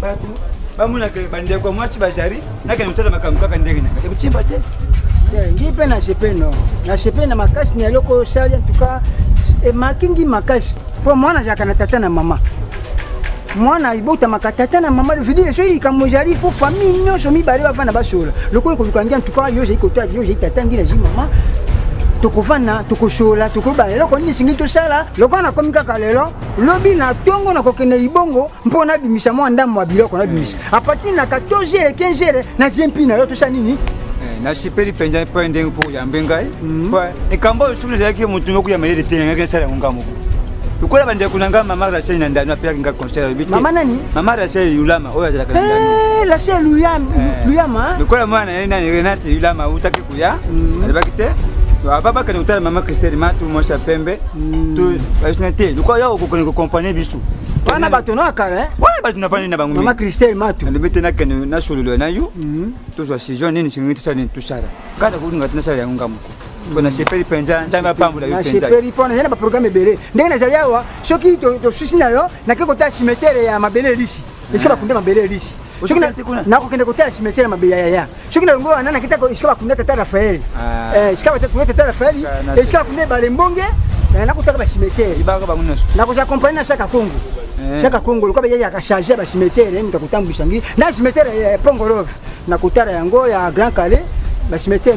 bato bamonaka bandeko mwasi bazali nakende kotala makambo kaka ndenge na ngai ekotimba te ngi mpe na jepe no na jepe na makasi na eloko osali antuka emaki ngi makasi mpo mwana azalaka na tata na mama mwana ibotamaka tata na mama vedire soki likambo ezali fo famille nyonso mibale bavanda basolola lokola ekoluka ngi antuka yo ozali kotala yo ozali tata ngi nazwi mama tokovanda tokosolola tokoyeba eloko nini esengi tosala lokola nakomi kaka lelo lobi na tongo na kokende libongo mpo nabimisa mwa ndambo ya biloko nabimisa mm. apartir na 14 jere 15 jere na jempi na yo tosa nini eh, nasepeli mpenza mpo ndenge mpo oyambe ngai mm. likambo oyo soki nazalaki motu moko ya mayele te nangaki nasala yango ngai moko lokola bandeko na ngai mama rachel na ndano apelaki ngai conseil alobi te mama nani mama rachel yulama oyo azalaka na ndano eh, rachel luyama eh. lokola mwana na ye nani renate yulama utaki ya mm. alobaki te babakende kotala mama christele ma tu mwasi ya pembe mm. basina te lokola yo okokende kokompagne biso wana bato na kala eh? wana bato na bani na bango mama christele matu alobi te nakende nasololo na yo mm. tozwa saison nini soki tosala nini tosala kaka nakolinga te nasala yango nga moko mpo nasepeli mpenza nzambe apambola yo nasepeli mpo nazali na baprogramme ebele ndenge nazali awa soki tosusi na yo nake kotala simetere ya mabele elisi esika bakunda mabele elisi nakokende kotala cimetiere mabe ya yaya soki na longo wana nakita esika bakunda tata rafael ah. eh, esika bakunda tata rafael esika bakunda ebale mbonge eh, nakotaka bacimetiere nakozala kompani na shaka kongo eh. shaka kongo lokola yaya akacharge ya bacimetiere moto akotambwisa ngi na cimetiere ya pongolove nakotala yango ya grand kale bacimetiere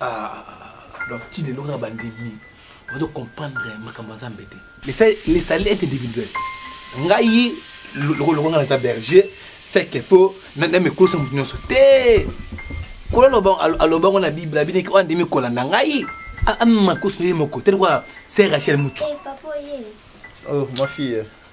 Ah, ah, ah, ah. donc ti lelo kaka bandimi ozo comprendre makambo ya nzambe te le salut est individuel ngai lokoloko ngai naza berger seke fo namikosa moto nyonso te kola alobango na bible abineki oyo andimi kolanda ngai amakoso ye moko te lokola se rachel mutu eh, oh, ma fille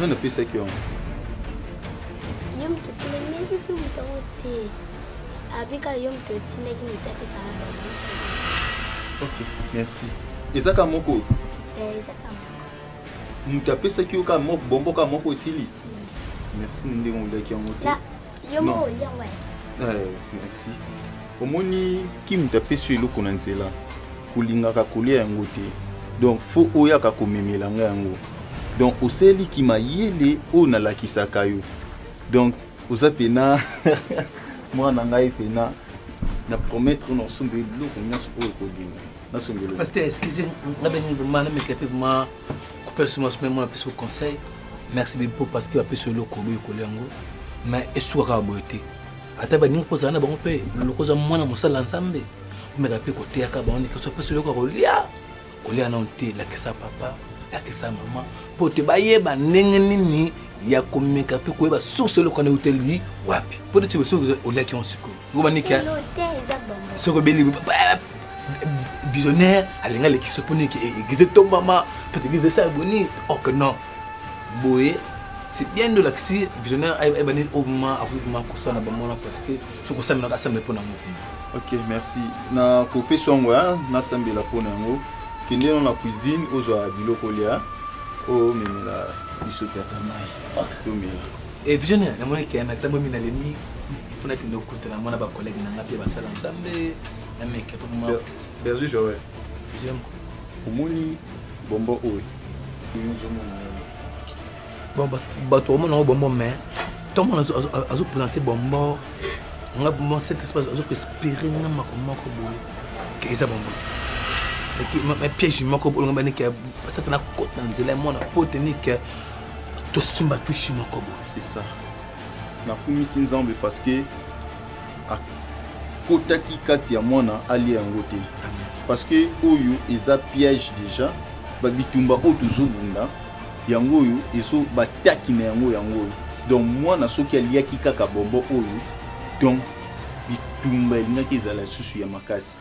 nani apesaki yango ye moto otilemeki mpe moto yango te abika yo moto otindaki moto apesaka bango ok merci ezaka moko eh, ezaka moto apesaki yo ka moko bombo ka moko esili merci na ndenge olaki yango te Yo mo olia ngai. Eh, merci. Omoni Kim tapesi yo eloko na nzela. Kolingaka kolia yango te. Donc faut oyaka komemela ngai yango. Donc oseli ki mayele oyo nalakisaka yo. Donc oza pena mwana ngai pena na promettre na osomba eloko nyonso oyo okolinga. nasengeli pasteur excusez nga bengi vraiment nameka mpe vraiment kopela suma suma mwana apesi ko conseil merci beaucoup parce que apesi eloko oyo ekolia yango mais esuka kaka boye te ata baningi mpo ozala na bango mpe loko oza mwana mosala ya nzambe omeka mpe koteyaka bango ndeke so apesi eloko ya kolia kolia nano te lakisa papa lakisa mama mpo te bayeba ndenge nini ya komeka mpe koyeba source eloko na euteli wapi mpo neti soki oliaki yango sikoyo ngoma nike soko beli visionnaire alinga lekisa mpo nike eglize tombama mpo eglize esala boni ok non boye c'est bien de lakisi visionnaire ebandi obima akobima kosala na bango wana parce que soki osamelaka asambela mpo na yango ok merci na kopesa yango ya nasambela mpo na yango kende no na cuisine ozwa biloko lya omemela biso tata mai tomela Eh, vision na mona ke na tambo mina lemi funa ke ndo kuta na mona ba collègue na ngapi ba sala nzambe na meke pour moi Berger Joël j'aime omoni bombo oyo nzo mona bon bato omona bombo mais ntango mona azopresente bombo nga bombo cet espace azokoespere nga mako moko boye ke eza bombo piège moko bolonga banike asata na kota na nzela ya mwana po tenike tosomba tushi moko boye c'est ça nakumisi nzambe parce que akotaki kati ya mwana alia yango te parce que oyo eza piège déjà babitumba oyo tozobunda yango oyo ezo bataki na yango yango oyo donc mwana soki aliaki kaka bombo oyo donc bitumba elingaki ezala lisusu ya makasi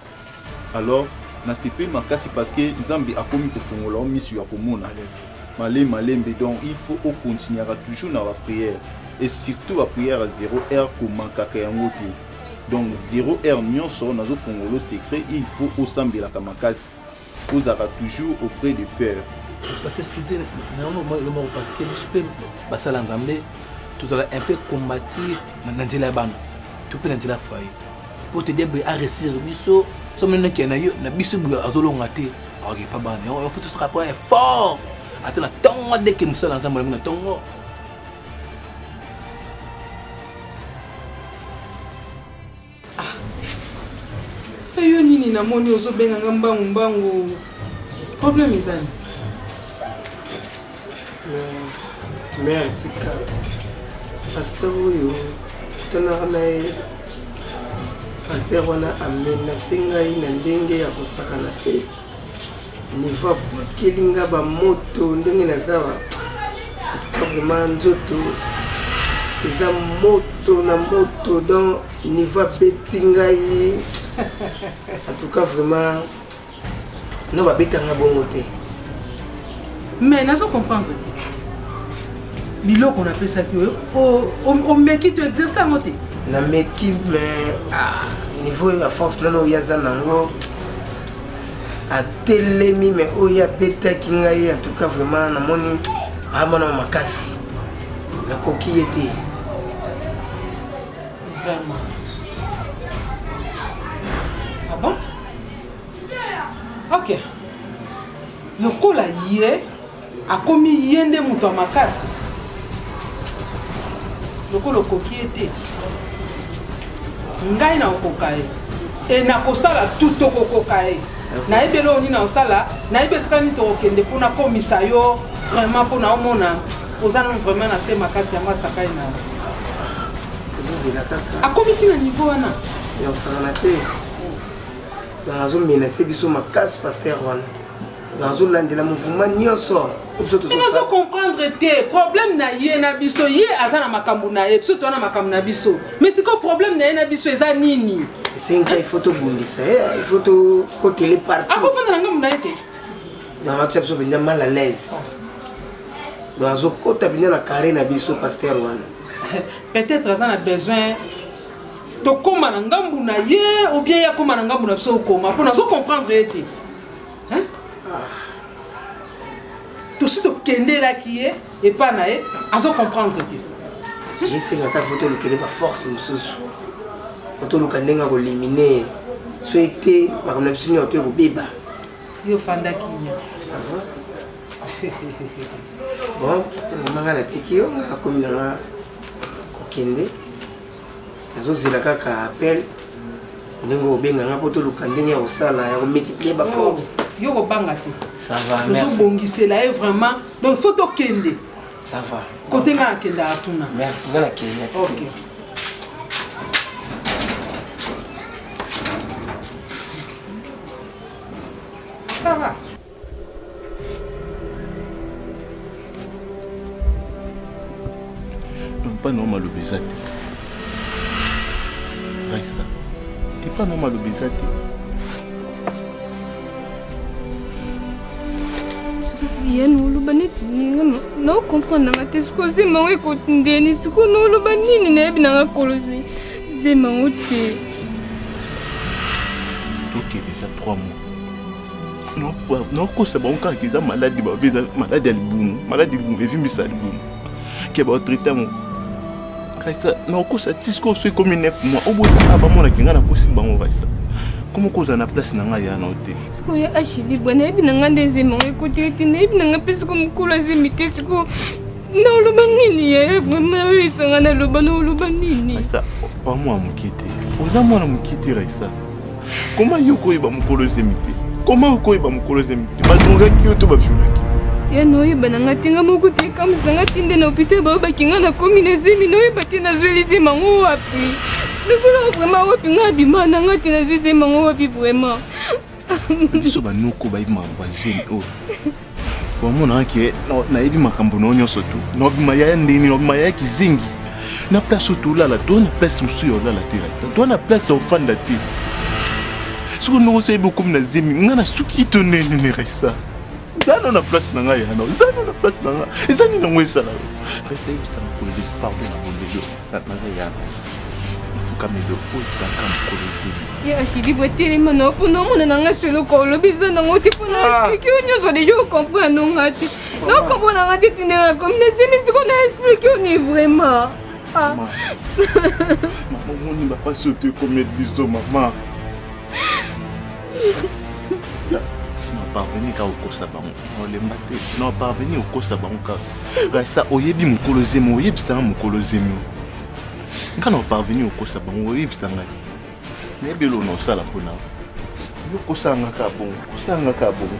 alors nasepeli makasi parce que nzambe akomi kofongola yo miso ya komona male malembe donc il faut okontinuaka toujours na baprière et surtout baprière ya 0 heure komankaka yango te donc 0 heure nyonso nazofongola secret il faut osambelaka makasi ozalaka toujours auprès de père parce que excusez nayango lomoko parce que biso mpe basala nzambe tozala un peu combatir na nzela ya bana to mpe na nzela ya foyer mpo te diable aresir biso somo neke na yo na biso boye azolonga te aokipa bana yango yango tosaka mpo effort ata na ntongo adeke mosala nzambe olembi na ntongo mpe ah. yo nini namoni ozobenga nga mbangu mbangu problème ezali mare tika paster oyo tanaka na ye paster wana amena se ngai na ndenge ya kosakana te nivo abwakeli nga bamoto ndenge nazawa atuka vraiment nzoto eza moto na moto donc nivo abeti ngai atuka vraiment no babetanga bongo te mais nazo comprendre te biloko napesaki oyo omeki to exerce yango te nameki mais ah, niveau ya force nano oyo aza nango atelemi me oyo abetaki ngai en tout cas vraiment namoni amona ah, makasi nakoki ye te vraiment ah bon ok lokola ye akomi ye nde moto ya makasi lokola okoki ye te ngai nakokoka ye e nakosala tu tokokoka ye nayebi eloko nini nakosala nayebi esika nini tokokende mpo nakomisa yo vraiment mpo naomona oza nano vraiment na se makasi yango asakai na akomi ti na niveau wana yosangana te azomenase biso makasi paster wana nazolandela mouvema nyonso nazo comprendre te problème na ye na biso ye aza na makambo na ye biso toa na makambo na biso mais sikoyo problème na ye na biso eza nini esengi il faut tobundisa ye eh, il faut tokotele partout akofanda na ngambo na ye te donc atia biso mpenza mal à l'aise donc azokota mpenza na carré na biso paster wana peut-être aza na besoin tokóma na ngambu na ye ou bien ye akóma na ngambu na biso okóma mpo nazo comprendre ye te hein? ah. tosi tokendelaki ye epa na ye azo comprendre te esengaka fo tolukele baforce mosusu po toluka ndenge ya kolimine ye soki te makambo na biso nyonso to ekobeba yo ofandaki nya sava bon mama ngai natiki yo ngai nakomi nanga kokende nazozela kaka appel ndenge obenga nga mpo toluka ndenge ya kosala ya komultiplier baforce oh, yo kobanga te tozobongisela ye vraiment donc faut tokende ça va kote nga nakendaka kuna merci nga nakende okay. ça va epai na yo maloba eza te raisa epai na yo maloba eza te yeni oloba neti ninga naocomprendre nanga te sikoyo zema yango ekoti ndeni sikoyo naoloba nini nayebi nanga kolo zema yango te tokende eza 3 mois nakosa bango kaka eza maladi babe eza maladi ya libumu maladi ya libumu evimbisa libumu ke baotraite yango kaisa nakosa tisko oso ekomi 9 mois obotaka bamonaki ngai nakosi bango kaisa koma okozala na place na ngai ya na te sikoyo ashili bwa nayebi na ngai nde ezemango ekoteli te nayebi na ngai mpe siko mokolo azemi te sikoyo naoloba nini ye vraimen oyebisanga naloba naoloba nini raisa pamwa moke te oza mwana moke te raisa Comment yo koyeba mukolo zemi te Comment okoyeba mukolo zemi te Badrogaki yo to baviolaki ya noyeba na nga te nga moko te kamisa nga ti nde na hôpital bayobaki nga nakomi na zemi noyeba te nazweli zemi yango wapi nazolaka vraiment wapi nga abima na nga te nazwi zemi yango wapi vraiment biso banoko bayebimaka bazemi oyo wamonaka ke nayebi makambo na yo nyonso tu nabima yaya ndeni nabima yaya kizengi na place oyo tolala toa na place mosusu ya olala te rata toa na place ya ofanda te soki ndongo oso yebi okomi na zemi ngai nasuki to neni ne resa zano na place na ngai yana zano na place na ngai eza nini yango esala yo resa yebisa makolo pardon na bondelo naza yaka suka milo oyo ezalaka mokolo ezeli ye ashili botelema na mpona omona na ngai soloko olobi eza nango te mpona ah. explike yo nyonso deja okomprendre nga te naokomprendre nga te tindela komi na zemi siko na explike yo ni vraiment ah. omoni bapasi oyo toekomeli biso mama na parveni ka okosa bango olemba te non parveni okosa bango kaka rasta oyebi mokolo zemi oyebisa nga mokolo zemi nga na parveni okosa bango oyebisa ngai nayebi elo na osala mpo na yo kosala nga kaka bongo kosala nga kaka bongo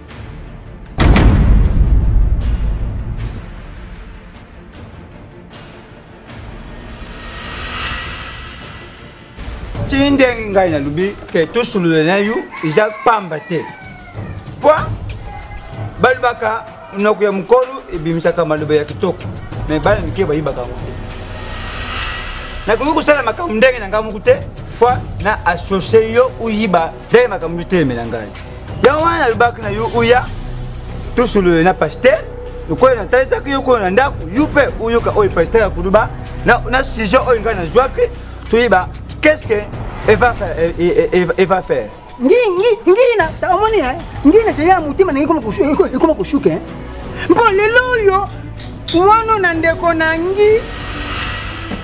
ti ndenge ngai nalobi ke tosolola na yo eza pamba te mpo balobaka monoko ya mokolo ebimisaka maloba ya kitoko me bana mike bayibaka yango te nakoki kosala makambo ndenge na ngai moko te mpo na associe yo oyiba Dai makambo mitelemela ngai yango wana nalobaki na yo oya tosolole na pasteur lokola natalisaki yo koyo na ndako yo mpe oyoka oyo pasteur ya kuluba na sujet oyo ngai nazwaki toyeba qu'est-ce que eva euh, faire ngina omoni ngina caya motema nange ekoma koshuka mpo lelo oyo Mwana na ndeko na ngi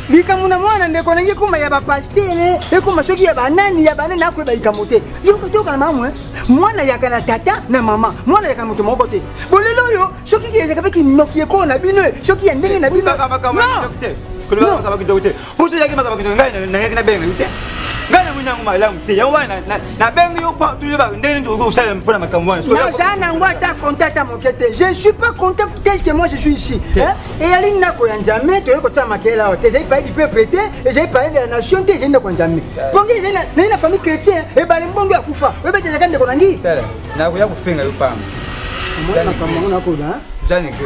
likambo na mwana ndeko nange ekoma ya bapastere ekoma soki ya banani ya banani akoyeba likambo te yoka toyokana malamu eh? mwana yaka na tata na mama mwana yaka na moto moko te bolelo oyo soki ezaka mpe kinoki ekolo na bino eh? soki ya ndenge na bino Pusu yaki makaba kino ngai na yaki na benga yute. Ngai na muna ngoma lamu te. Yango wana na na benga yo pa tuyo ba ndeni to ko sala mpona makambo wana. Na za na ngwa ta contact à mokete. Je suis pas content tel que moi je suis ici. Hein? Et yali na ko ya njame to ko tsama kela ote. J'ai parlé du peuple te, et j'ai parlé de la nation te, j'ai na ko njame. Bongi j'ai na na famille chrétienne et ba mbongi akufa. Bebe te zakande ko nangi. Tala. Na ko ya ko fenga yo pamba. Mwana kama mwana ko da. Jani ke.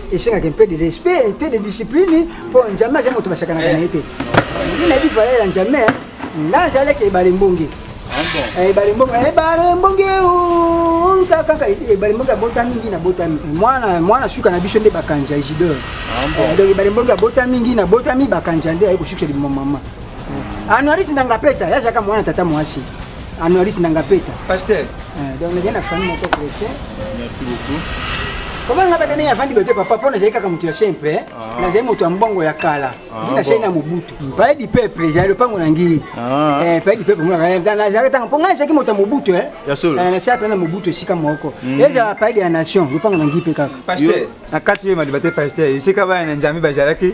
esengaka mpe de respect mpe de discipline mpo njambe aza moto basakanaka eh. na ye te ndi nayebi valeur ya njambe nga nazalaki ebale mbonge ah, eh, ebale mbonge ebale eh, mbonge kaka ebale mbonge abota mingi nabota mingi mwana mwana suka na biso nde bakanja isidore ah, donc ebale mbonge abota mingi nabota mingi bakanja nde aye kosukisa liboma mama anuarisi na ngapeta yazalaka mwana tata mwasi Anoris Nangapeta. Pasteur. Euh, donc, j'ai une famille mon chrétien. Merci beaucoup. Comment nga badane ya vandi bete papa pona j'ai kaka mutu ya simple hein. Ah. Na j'ai mutu ya mbongo ya kala. Ah, Dina chez na mubutu. Pai di peuple j'ai le pango na ngi. Ah. Eh pai di peuple mona kala na j'ai tanga ponga j'ai ki mutu ya mubutu hein. Ya solo. Eh, na chat na mubutu sika moko. Mm. Et j'ai pai di ya nation, le pango na ngi pe kaka. Pasteur. Na kati ye madi bete pasteur. Sika ba na njami ba jaraki.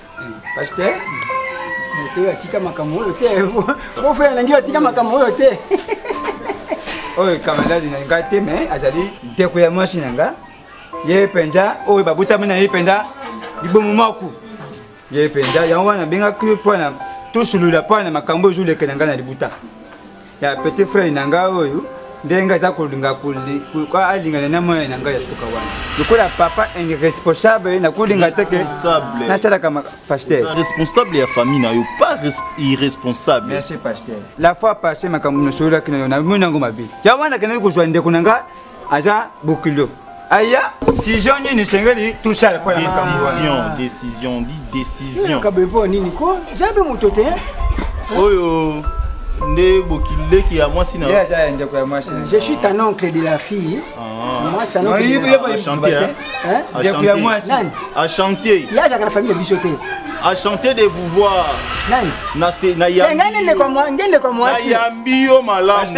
pasteur moto oyo atika makambo oyo te bofe alingi atika makambo oyo te oyo kamaladi na ngai te me azali ndeko ya mwasi na ngai ye mpenza oyo babotami na ye mpenza libomo moko ye mpenza yango wana nabengaki mpo na tosolola mpo na makambo ezolekela ngai na libuta ya petit frère na ngai oyo ndenge aza kolinga alingana na mwana na ngai ya suka wana lokola papa irresponsable nakolinga te ke nasalaka pasteur responsable ya famille na yo pas irresponsable merci pasteur la fois passé makambo nasololaki na yo namoni yango mabe ya wana kendaki kozwa ndeko na ngai aza bokilo aya decision nini esengeli tosala mpo na makambo wana decision di decision kabe mpo nini ko zala mpe moto te oyo nde bokileki ya mwasi na aza ya ndeko ya mwasi je suis ton oncle de la fille achantier ye azalaka na famille na biso te achantier de pouvoir nani na yambi yo malamu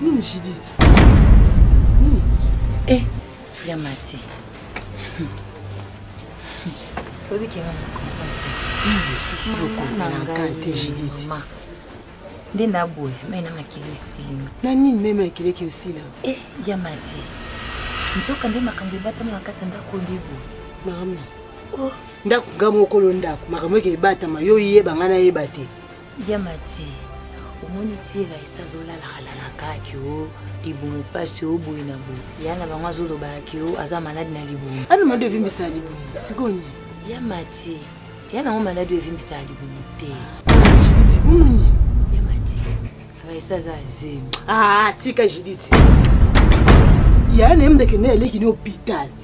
Nini Judith? Nini? Eh, ya mati. Oyebi ke ngai na comprendre. Judith. Nde na boye, mai na makili esinga. Na nini meme makili eke osila? Eh, ya mati. Nzoka nde makambo ebatami na kati ya ndako nde boye. Mama. Oh. Ndako ngai mokolo ndako, makambo eke ebatama, yo oyeba ngai nayeba te. ya mati omoni tira esi azolalaka lalaka kio libumu mpasi oyo boye na boye ya na bango azolobaka kio aza maladi na libumu ano maladi evimbisaka libumu sikoyo nini ya mati ya nango maladi oyo evimbisaka libumu te omoni ya mati raisa aza azemi ah, tika jiditi yaya na ye mdekende eleki na hôpital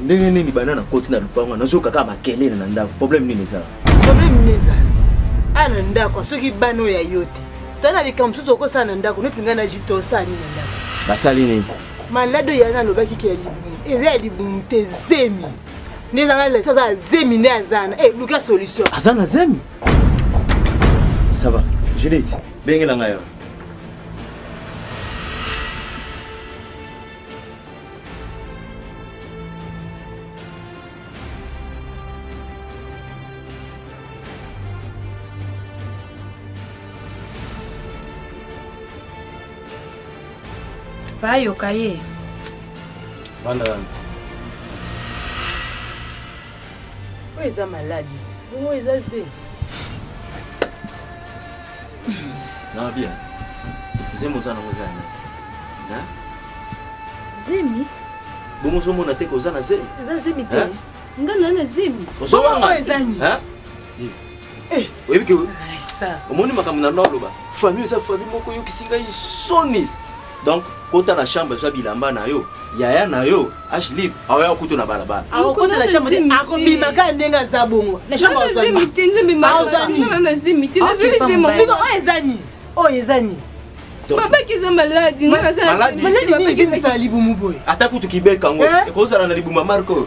ndenge nini banda nakoti na lopango wana nazoyoka kaka makelele na ndako problème nini ezala problème nini ezala aya na ndako soki bana oyo ya yo te to na likambo mosusu okosala na ndako neti ngai na jito osala nini na ndako basali nini maladi oyo yana alobaki ke ya libumu eza ya libumu te zemi nde ezanga lesa aza ya zemi nde aza na e luka solution aza na zemi ça va judith bengela ngai bayoka ye vanda wana oyo eza maladi bongo eza zemi Nabia, zemi oza nango eza ya nani? Hein? zemi Bongo ozomona te koza na zemi? eza zemi te Hein? nga na na zemi Ozowanga? Oyo eza nini? Hein? Eh, oyebi ke omoni makambo na naloba famille eza famille moko eyokisi ngai soni donc kota na chambre zwa bilamba na yo yaya na yo ashlip aoya kutu na balabala akokota na chambre te akobima kaka ndenge aza bongo na chambre azanioyo eza nini oyo eza nini babaki eza maladi maladi nini ezala libumu boye ata kutu kibeka yango eh? ekozala na libumu ya marko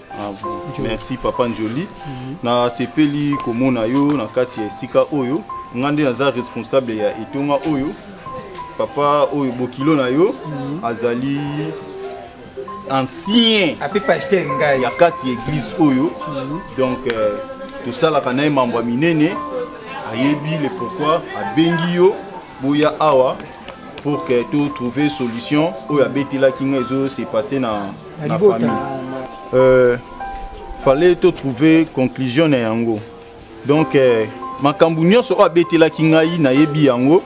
Ah Merci papa Njoli. Mm -hmm. Na sepeli komona yo na kati ya esika oyo. Nga nde naza responsable ya etonga oyo. Papa oyo bokilo na yo mm -hmm. azali ancien ape pasteur ngai ya kati ya église oyo mm -hmm. donc euh, tosalaka na ye mambo ya minene ayebi le pourquoi abengi yo boya awa pour que to trouver solution oyo abetelaki nga ezo se passer na na famille euh, fallait to trouver conclusion na yango donc euh, makambo nyonso oyo abetelaki ngai nayebi yango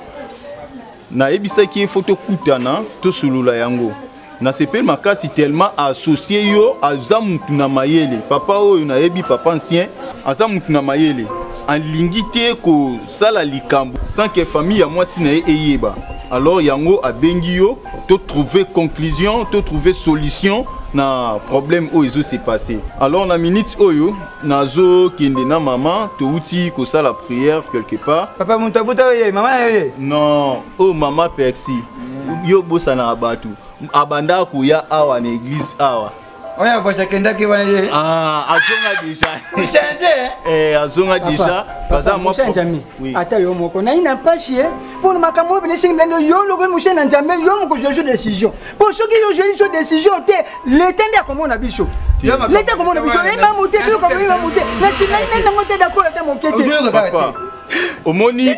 nayebisaki ye fo tokutana tosolola yango nasepeli makasi tellement associe yo aza mutu na mayele papa oyo nayebi papa ancien aza mutu na mayele alingi te kosala likambo sans que famille ya mwasi na ye eyeba alors yango abengi yo to trouver conclusion to trouver solution na problème oyo ezo se passer alors na minute oyo nazo kende na maman touti kosala prière quelque part papa moto abuta oye mama na yo ye non oyo oh, mama persi mm. yo bosanaka bato abandaka koya awa na église awa oya voice akendaki wana ye ah azonga déjà change eh azonga déjà baza mwa njami ata yo moko na ina mpashi ye mpo na makambo oyo binesingi bilando yo loko moshe na njambe yo moko jojo décision mpo soki yo joli so décision te leta nde akomona biso leta akomona biso ye mamu te biloko boyeba mu te na sinai nai nango te dakolo ata moke te omoni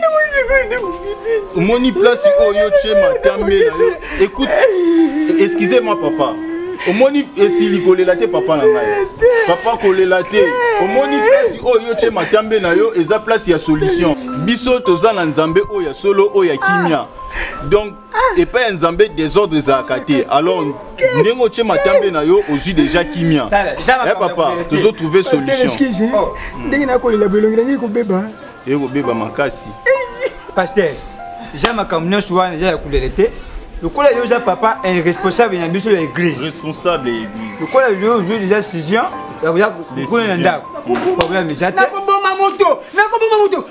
omoni place oyo tye matambe na yo écoute excusez moi papa omoni esili kolela te papa na ngai papa kolela te omoni place oyo yo tye matambe na yo eza place ya solution biso toza na nzambe oyo ya solo oyo ya kimia donc ah. epai ya nzambe desordre ezalaka te alors ndenge otie matambe na yo ozwi deja kimia eh, papa tozo trouve solution oh. ndenge nakolela bolongi nange ekobeba ekobeba makasi paster ja makambo nyonso wana eza ya kulele te lokola yo oza papa responsable na biso ya église responsable ya église lokola yo ozwi deja decision ya koya kokuna na ndako problème eza te nakoboma moto nakoboma moto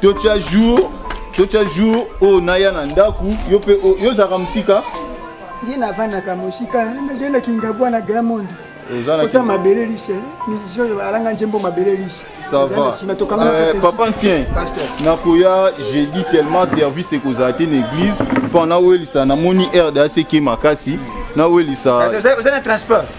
totya jour totya jour oyo naya na ndako yo mpe yo ozalaka mosika ye navandaka mosika nazoye na kingabwa na grand monde kota mabele lishe mijo alanga njembo mabele lishe euh, papa ancien nakoya jeudi tellement service ekozala te na église mpo nawelisa namoni rdac ke makasi nawelisa oza na transport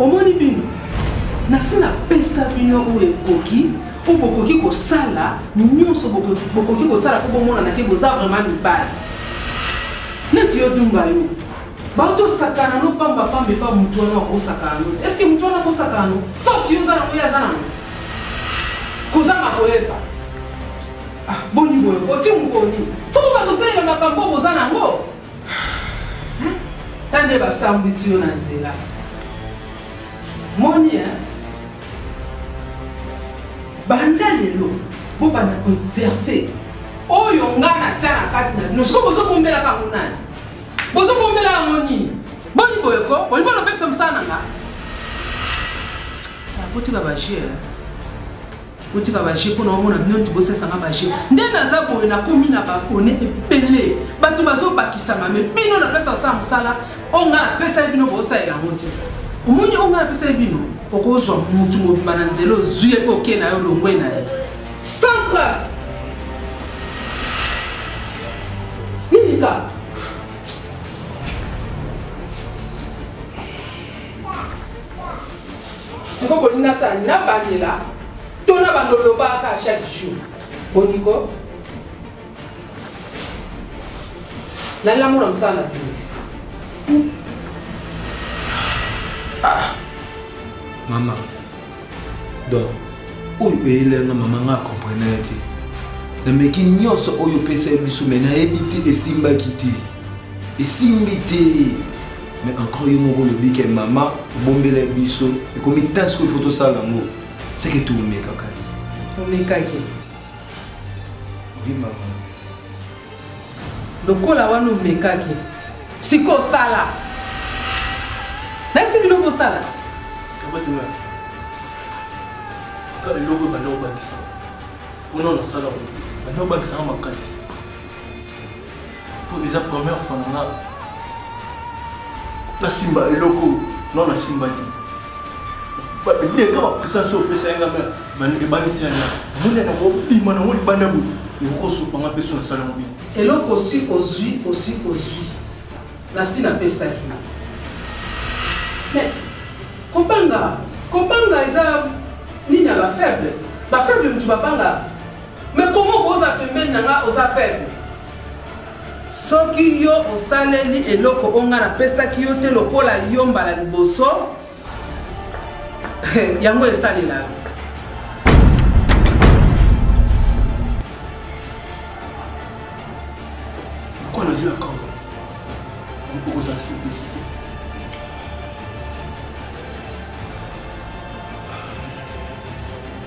Omoni bino nasi napesa bino oyo ekoki oyo bokoki kosala nyonso bokoki kosala mpo bomonana te boza vraiment mibali neti yo dumba yo bato osakana no pamba pamba epa motu wana akosakana no te estce motu wana akosakana no force yo oza nango ye aza nango kozanga koyeba ah, boni boye oti mokoni fo boba kosalela makambo boza nango tande basambwisi yo na nzela moni eh? banda lelo bobanda koexerce oyo nga natya na kati na bino sikoyo bozobombelaka yango nani bozobombela yango nini boni boye ko olingi olobebisa mosala na nga nakotika bajere botika ba jeu mpo na omona bino nti bosesanga ba jeu nde naza boye nakomi na babone ebele bato bazobakisama me bino napesa kosala mosala oyo ngai napesali bino bosalela yango te omoni oyo ngai napesali bino okozwa motu mobimba na nzela ozwi ye mpe okei na yo olongwe na ye sans trace nini kaka siko bolingi nasala nabandela to na bando olobaka chaque jour boniko nalamu na mosala na bino ah. mama donc oyo eyelenga mama nga akomprene ye te nameki nyonso oyo opesa ye biso me nayebi te esimbaki te esimbi te mais encore yo moko olobi ke mama obombela biso ekomi ntan sikoyo fo tosala yango seke toomeka kasi omekaki vi mama lokola wana omekaki sikoyo sala nayebisi bino bosala eloko ebanda kobakisa mpona nasala banda kobakisaka makasi po eza première fois na nga nasimba eloko no nasimbaki leka bapresence oyo opesa yanga ebangisi ya nga mona nakobima nango libanda boye ekokosupa nga mpeso nasala yango bino eloko osi ozwi osi ozwi nasi napesaki mais kobanga kobanga eza nini ya bafaible bafaible motu babanga Mais comment okoza pembeni na nga oza faible soki yo osaleli eloko oyo ngai napesaki yo te lokola yo mbala liboso yango esalela yo mpo nazwi ya kawa okozala sudesi te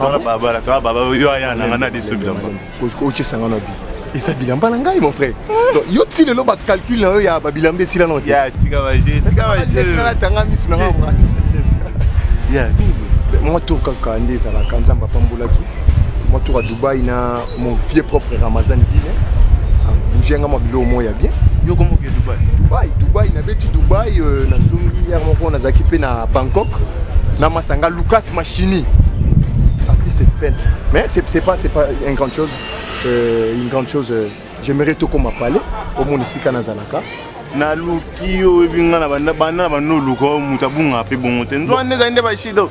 wana babala to baba yo aya na ngana de sobi lamba ko che sanga na bi esa bilamba na ngai mon frère donc yo ti lelo ba calcul na yo ya ba bilamba esila na te ya tika ba je tika ba je na tanga misu na ngai ko artiste ya moi tour kaka nde ezalaka nzambe apambolaki moi tour ya dubai na Mon vieux propre Ramazan Bine, ah, bouger nga mwa biloko moko ya bien. Yo komo ke Dubai. Dubai, Dubai na beti Dubai euh, na zongi hier moko nazaki pe na Bangkok na masanga Lucas Machini. Artiste peine. Mais c'est c'est pas c'est pas une grande chose. Euh, une grande chose euh, j'aimerais tout comme parler au monde ici kanazalaka. naluki yo oyebi ngai na banda na banda oluka moto abungaka mpe bongo te nzwa nde ezali nde bashido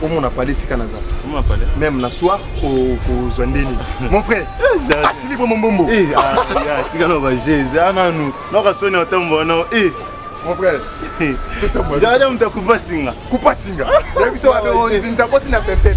Comment on a parlé si Kanaza Comment on a parlé Même la soir au Zouandeni. Mon frère, asili pour mon bombo. Eh, ah, tu vas nous Jésus, ah non, nous, nous allons sonner au temps bon, eh. Mon frère, Dada mta kupa singa. Kupa singa. Ya biso wabe on zinza koti na pepe.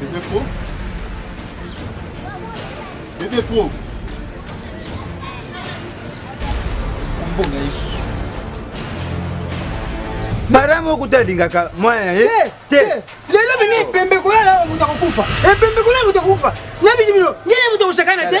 Bébé Pro Bébé Pro Kombo na Yesu Mariam okuta alingaka mwana ye eh, te eh, lelo bini epembe kolala moto akokufa epembe kolala moto akokufa na bisi bino ngene moto akosakana te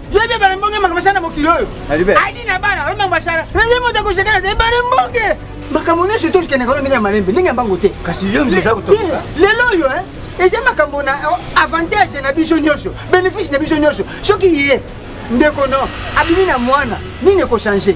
yebi ebale mbonge makambo asala na mokili oyo adi na bana oyo makambo asala nenge moto akosekana te ebale mbonge makambo nyonso tokendaka no ndenge ya malembe ndenge ya mbango te lelo oyo eh, eza makambo na oh, avantage na biso nyonso bénéfice na biso nyonso soki ye ndeko no abimi na mwana nini ekochange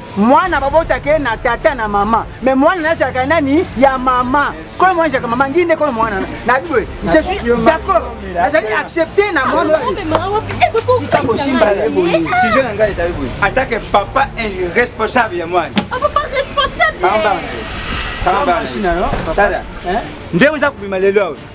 mwana babotaka ye na tata na mama me mwana nazalaka nani ya mama kolo mwana ezalaka mama ngi nde kolo mwana na biboye je suis d'accord nazali accepte na mwana tika kosimba ye boye sujet na ngai ezali boye atake papa irresponsable ya mwana nde oza kobima lelo awa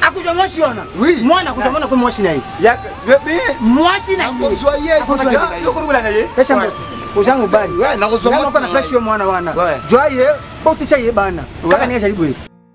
akozwa mwasi wana mwana akozwa mwana ko mwasi na ye mwasi na ye oza mobali nakozwa mwana wana jwa ye botisa ye bana kaka ndenge ezali boye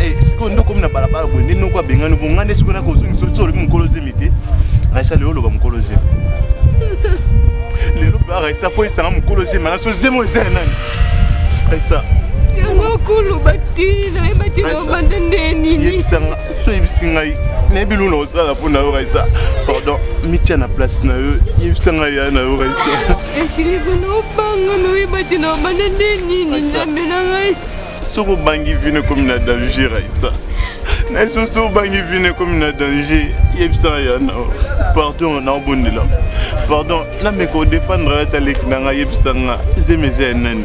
eh, sikoyo nde okomi na balabala boye nde noko abengani bongo ngai nde sikoyo nakozongi soki so olobi mokolo zemi te raisa lelo oloba mokolo zemi lelo mpe raisa fo esanga mokolo zemi ana so zemi oyo eza ya nani raisa yango koloba te nayeba te na obanda nde nini so oyebisi ngai nayebi luna osala mpo na yo raisa pardon mitya na place na yo yebisa ngai ya na yo raisa esilika na obanga me oyeba te na obanda nde nini nzambe na ngai soki obangi vino ekomi na danger aita na soki obangi vino ekomi na danger yebisa ya na pardon naobondela pardon nameka odefendre ata leki na ngai yebisa nga zemi eza ya nani